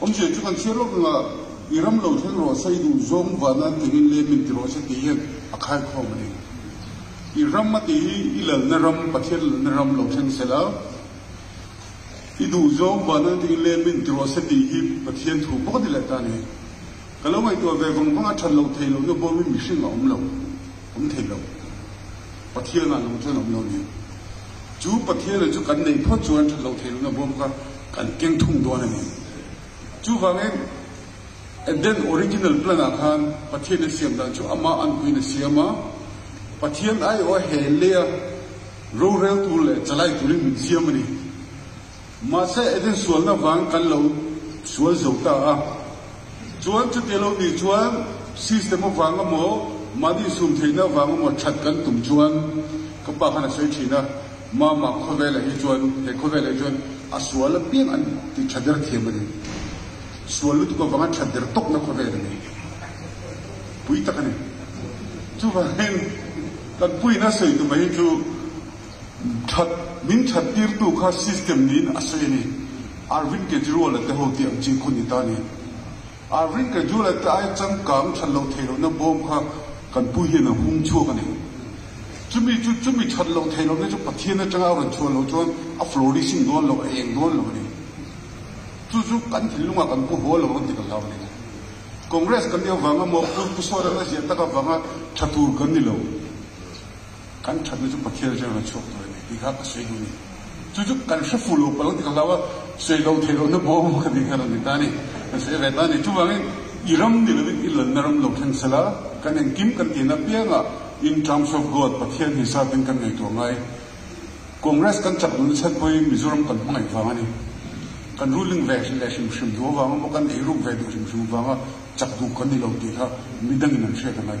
Awm che chu kan chhiar lawk ang a, i ram lo thleng rawh sa, i duh zawng vuah nan ti ngin lem in ti rawh sa tih hian a khaikhawm a ni. I ram a tih hi i lalna ram, Pathian lalna ram lo thleng se la. I duh zawng vuah nan ti ngin lem in ti rawh sa tih hi Pathian thu bawk a ni leh ta ni. Ka lo ngaihtuah ve vang vang a, that lo thei lohna bawm hi mihring a awm lo, awm thei lo. Pathian ah lo chuan a awm lo a ni. Chu Pathian leh chu kan nei phawt chuan that loh thei lohin a bawm kha kan keng thung dawn a ni. Chuvangin Eden original plan ah khan Pathian in siam dan chu Amah an puiin a siam a, Pathian aiawh a hel leh a, rorel tur leh chalai turin min siam a ni. Mahse, engtin sualna vang kan lo sual zo ta a, chuan chute lo ni chuan system avanga maw, mahni sum theihna avanga maw that kan tum chuan ka pa khan a sawi thin a, Mama, khawvelah hi chuan, he khawvelah hi chuan a sual apiang a ni tih tha der thiam a ni. Sual lutuk avanga that der tawkna khawvel a ni. Pui tak a ni. Chuvangin kan puina sawi tumah hi chu. That, min that tirtu kha system niin a sawi a ni. Arvind Kejriwala te ho tih ang chi khaw ni ta ni. Arvind Kejriwala te ai changkang that loh theih lohna bawm kha kan Pu Hiana hung chhuak a ni. Chumi chu chumi that loh theih lohna chu Pathian atanga a rawn chhuah loh chuan a flourishing dawn lo, a eng dawn lo a ni. Chu chu kan thil lungah kan pu haw lo rawn ti ka hlau a ni. Congress kan ni avanga Mawhpui Pu Sawrel a ziah tak avanga tha tur kan ni lo. Kan thatna chu Pathian zia rawna chhuak tur a ni tih kha ka sawi dun i chu chu kan hre fuh lo pal lo ti ka hlau a, sawi lo theih lohna bawm ang kha tih kha rawn ni ta ni, kan sawi ve ta ni. Chuvangin i ram ni lovin i lanna ram lo thleng sela kan engkim kan ti na pianga in terms of God Pathian hi satin kan ngaihtuah ngai. Congress kan chak duhna chhan pawhin Mizoram kan hmangaih vang a ni. Kan ruling ve leh hrim hrim duh avang emaw kan ei ruk ve duh hrim hrim avanga chak duh kan ni lo tih kha midangin an hriat a ngai.